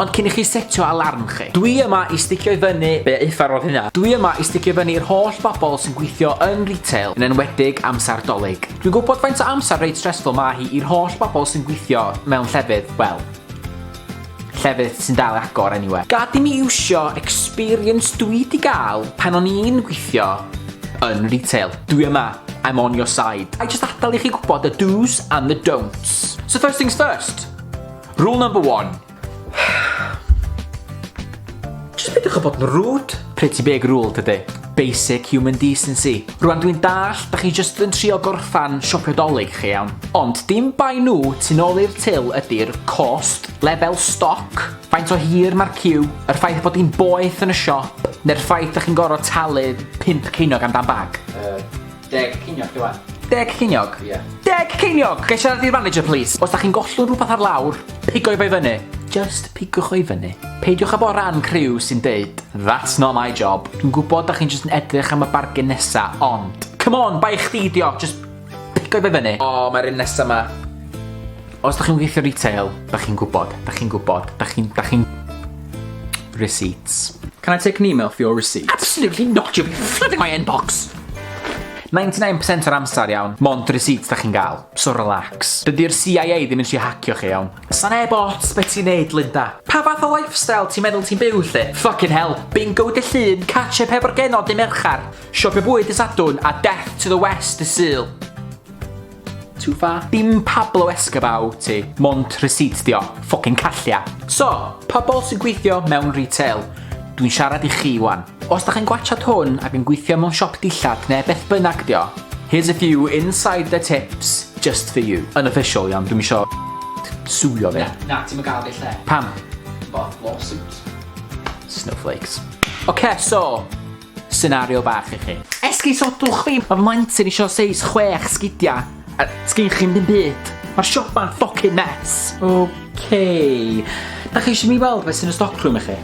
Ond cyn i chi setio alarm chi. Dwi yma i sticio i fyny, be ufarodd hynna? Dwi yma i sticio i fyny i'r holl bobl sy'n gweithio yn retail, yn enwedig amser Dolig. Dwi'n gwybod faint o amser reit stressful mae hi i'r holl bobl sy'n gweithio mewn llefydd, wel, llefydd sy'n dal agor anyway. Gad i mi iwsio experience dwi di gael pan o'n i'n gweithio yn retail. Dwi yma, I'm on your side. I just adal i chi gwybod y do's and the don'ts. So first things first. Rule number one. Jyst peidiwch â bod yn rude. Pretty big rule tydi. Basic human decency. Rwan dwi'n dall, da chi just yn trio gorffan siopio dolyg chi iawn. Ond dim bai nhw tu nôl i'r til ydy'r cost, lefel stoc, faint o hir mae'r cyw, yr ffaith bod hi'n boeth yn y siop, neu'r ffaith da chi'n gorfod talu pimp ceinog am dan bag. Uh, Deg ceiniog di wan. Deg ceiniog? Ie. Yeah. Deg ceiniog! Gai siarad i'r manager, please? Os da chi'n gollwng rhywbeth ar lawr, pigoi fe fyny. Just pigwch o'i fyny. Peidiwch â bod rhan criw sy'n deud, that's not my job. Dwi'n gwybod da chi'n just yn edrych am y bargen nesa, ond... Come on, bai chdi dio, just pigoi fe fyny. O, oh, mae'r un nesa ma. Os da chi'n gweithio retail, da chi'n gwybod, da chi'n gwybod, da chi'n... Da chi'n... Receipts. Can I take an email for your receipt? Absolutely not, you'll be flooding my inbox! 99% o'r amser, iawn. Mond receipts da chi'n gael, so relax. Dydy'r CIA ddim yn si hacio chi, iawn. Sa neb ots be ti'n neud, Linda. Pa fath o lifestyle ti'n meddwl ti'n byw, lle? Fucking hell, bingo dy llun, catch up hefo'r genod dy Merchar, siopio bwyd dy Sadwrn, a death to the West dy Sul. Too far. Dim Pablo Escobar wt ti. Mond receipt dio. Ffocin callia. So, pobl sy'n gweithio mewn retail, dwi'n siarad i chi wan. Os da chi'n gwachad hwn ac yn gweithio mewn siop dillad neu beth bynnag dio, here's a few inside the tips just for you. Unofficial iawn, dwi'n isio suwio fi. Na, ti'n gael fi lle. Pam? Bo, lawsuit. Snowflakes. Oce, okay, so, Senario bach i chi. Esgusodwch fi, mae fy mlentyn eisiau seis chwech sgidiau, a sgyn chi'n ddim byd. Mae'r siopa'n ffocin mess. OK. Da chi eisiau mi weld beth sy'n y stockroom i chi?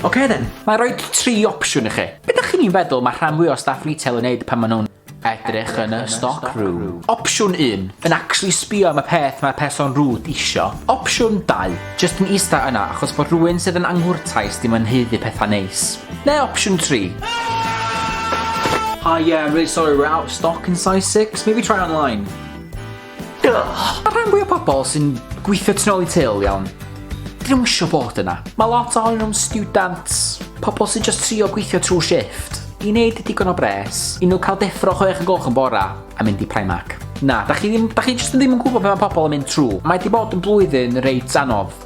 OK then. Mae rhoi tri opsiwn i chi. Be da chi'n feddwl mae rhan fwy o staff retail yn neud pan maen nhw'n Edrych yn y stock room. Opsiwn un, yn actually sbio am y peth mae'r person rude isio. Opsiwn dau, just yn ista yna achos bod rhywun sydd yn anghwrtais dim yn haeddu pethau neis. Neu opsiwn tri, Hi, yeah, I'm really sorry, we're out of stock in size 6. Maybe try online. Mae'r rhan fwy o pobl sy'n gweithio tu ôl i til, iawn, dyn nhw'n eisiau bod yna. Mae lot ohonyn nhw'n student, pobl sy'n just trio gweithio trwy shift, i wneud digon o bres, i nhw cael deffro chwech yn golch yn bora a mynd i Primark. Na, da chi, ddim, da chi just ddim yn gwybod beth mae pobl yn mynd trwy. Mae di bod yn blwyddyn reit anodd.